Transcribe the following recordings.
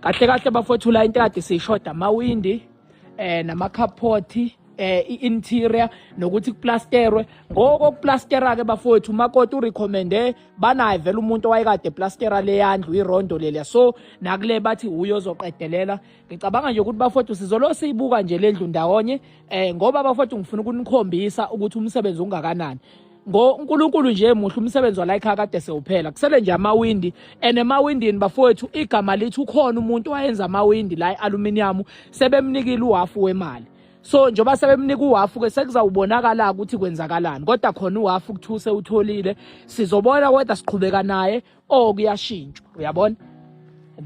kahle kahle bafowethu la into kade siyishoda amawindi eh namakhaphothi eh i-interior nokuthi kuplasterwe ngoko kuplastera ke bafowethu umakoti urecommende banaye vele umuntu owayekade plastera leyandlu irondo leliya so nakule bathi uyozoqedelela ngicabanga nje ukuthi bafowethu sizolo siyibuka nje lendlu ndawonye eh ngoba bafowethu ngifuna ukunikhombisa ukuthi umsebenzi ungakanani ngoNkulunkulu nje muhle umsebenzi wala ekhaya kade sewuphela kusele nje amawindi and emawindini bafowethu igama lithi ukhona umuntu wayenza amawindi la ealuminium sebemnikile uhafu wemali so njengoba sebemnika uhafu ke sekuzawubonakala ukuthi kwenzakalani kodwa khona uhafu kuthuse utholile sizobona kodwa siqhubeka naye oh kuyashintshwa uyabona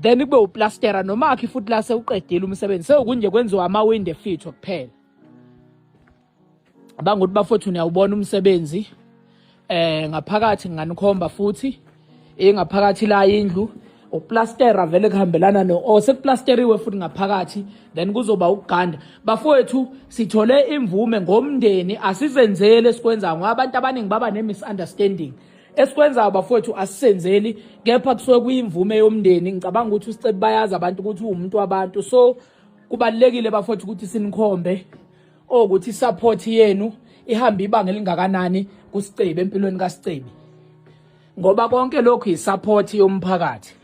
then kube uplastera noma akhe futhi la sewuqedile umsebenzi sewukunje kwenziwa amawindi efitho kuphela banguthi bafowethu niyawubona umsebenzi eh ngaphakathi nganikhomba futhi ingaphakathi la indlu uplastera vele kuhambelana no oh sekuplasteriwe futhi ngaphakathi then kuzoba ukuganda bafowethu sithole imvume ngomndeni asizenzele sikwenza ngoba abantu abaningi baba ne misunderstanding esikwenzayo bafowethu asisenzeli kepha kusuke kuyimvume yomndeni ngicabanga ukuthi usicebi bayazi abantu ukuthi uwumuntu wabantu so kubalulekile bafowethu ukuthi sinikhombe okuthi support yenu ihambe ibanga elingakanani kusicebi empilweni kasicebi ngoba konke lokhu yisupport yomphakathi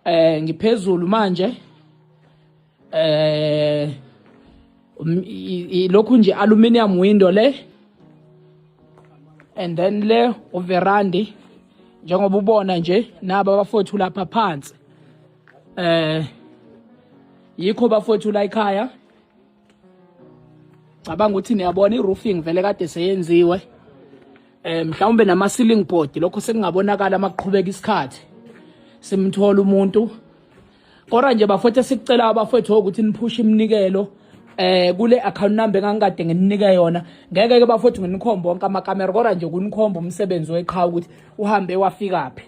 eh ngiphezulu manje eh um, lokhu nje aluminium window le and then le uverandi njengoba ubona nje naba bafowethu lapha phansi eh yikho bafowethu la ekhaya cabanga ukuthi niyabona i-roofing vele kade seyenziwe eh mhlawumbe nama ceiling board lokho sekungabonakala amaqhubeka isikhathi simthola umuntu Kodwa nje bafowethu sicela abafowethu ukuthi niphushe iminikelo eh kule account number engangikade ngininike yona ngeke ke bafowethu nginikhombe wonke amakamera kodwa nje kunikhomba umsebenzi weqhawe ukuthi uhambe wafikaphi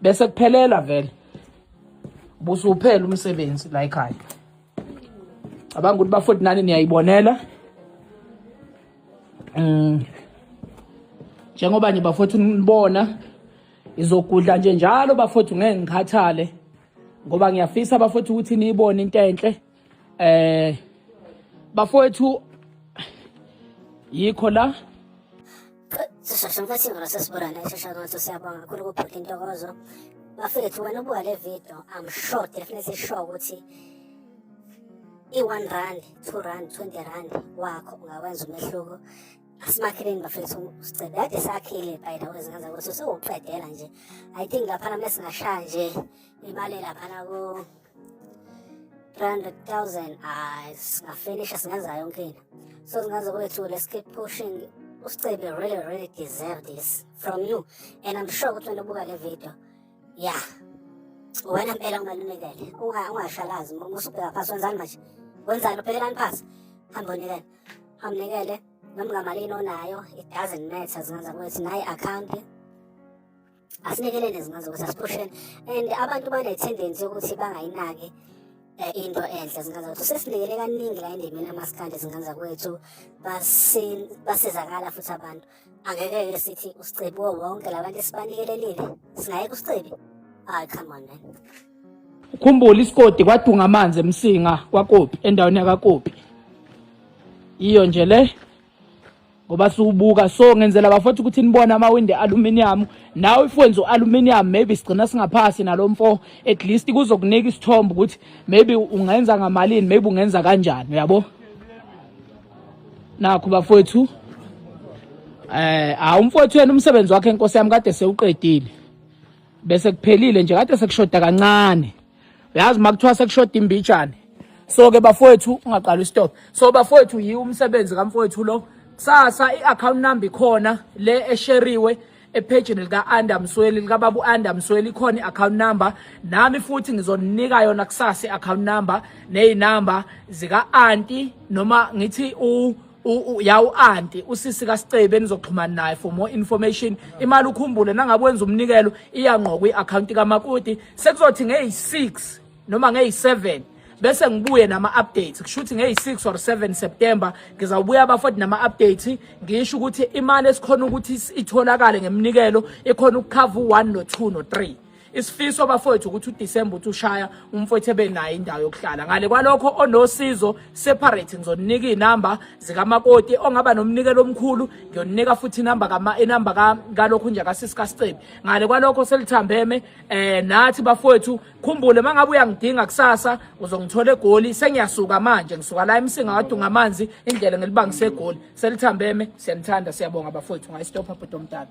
bese kuphelela vele busuphela umsebenzi la ekhaya cabanga ukuthi bafowethu nani niyayibonela um njengoba nje bafowethu nibona Ngizogudla nje njalo bafowethu ngeke ngikhathale ngoba ngiyafisa bafowethu ukuthi niyibone into enhle eh bafowethu yikho la sisheshe mfethu ingalo sesibonana ishesha ngatho siyabonga kakhulu kubhuti intokozo bafethu wena ubuka le video i'm sure definitely sure ukuthi i-one rand two rand twenty rand wakho ungawenza umehluko asimakheleni bafethu sicela kade sakhile by the way zingenza ukuthi sewuqedela nje i think laphana uma singashaya nje imali laphana ku 300000 ay singafinisha singenza yonke into so singaze kwethu let's keep pushing usicebe really really deserve this from you and i'm sure ukuthi wena ubuka le video yeah wena mpela ungalunikele ungashalazi uma usubheka phasi wenzani manje wenzani uphekelani phasi hamba unikele amnikele noma ngamalini onayo it doesn't matter zingenza ukuthi nayi account asilekelele zingenza ukuthi asiphusheni and abantu bane-tendency yokuthi bangayinaki eh, into enhle zingenza ukuthi sesinikele kaningi la endimini amasikandi zingenza kwethu basizakala futhi abantu Angeke-ke sithi usicebi kuwo wonke labantu esibanikelelile. Singayeka usicebi? Hayi, come on man. ukhumbule isikoti kwadunga amanzi emsinga kwakopi endaweni yakakopi iyo nje le ngoba siwubuka so ngenzela bafowethu ukuthi nibone amawindi aluminium nawe if wenza u-aluminium maybe sigcina singaphasi nalo mfo at least kuzokunika isithombe ukuthi maybe ungenza ngamalini maybe ungenza kanjani uyabo nakho bafowethu eh ha umfowethu yena umsebenzi wakhe inkosi yami kade sewuqedile bese kuphelile nje kade sekushoda kancane uyazi makuthiwa sekushoda imbijane so ke bafowethu ungaqala istop so bafowethu yiwo umsebenzi kamfowethu lo kusasa i-account number ikhona le esheriwe ephejini lika-anda msweli likababa u-anda msweli ikhona i-account number nami futhi ngizoninika yona kusasa i-account number ney'namba zika-anti noma ngithi u ya u-anti usisi kasicebe enizoxhumana naye for more information imali ukhumbule nangabe wenza umnikelo iyangqokwa i-akhawunti kamakoti sekuzothi ngeyi-six noma ngeyi-7 bese ngibuye nama-updates kusho ukuthi ngeyi-6 or 7 september ngizawubuya abafoti nama-updates ngisho ukuthi imali esikhona ukuthi itholakale ngeminikelo ikhona ukukhava u-1 no-2 no-3 isifiso bafowethu ukuthi uDisemba uthi ushaya umfowethu ebenayo indawo yokuhlala ngale kwalokho onosizo separate ngizoninika izinamba zikamakoti ongaba nomnikelo omkhulu ngiyoninika futhi inamba kama inamba kalokho nje kasisi kaScebi ngale kwalokho selithambeme eh nathi bafowethu khumbule mangabe uyangidinga kusasa uzongithola egoli sengiyasuka manje ngisuka la emsinga wadunga amanzi indlela ngelibangise egoli selithambeme siyanithanda siyabonga bafowethu ngayistopha bhuti omdala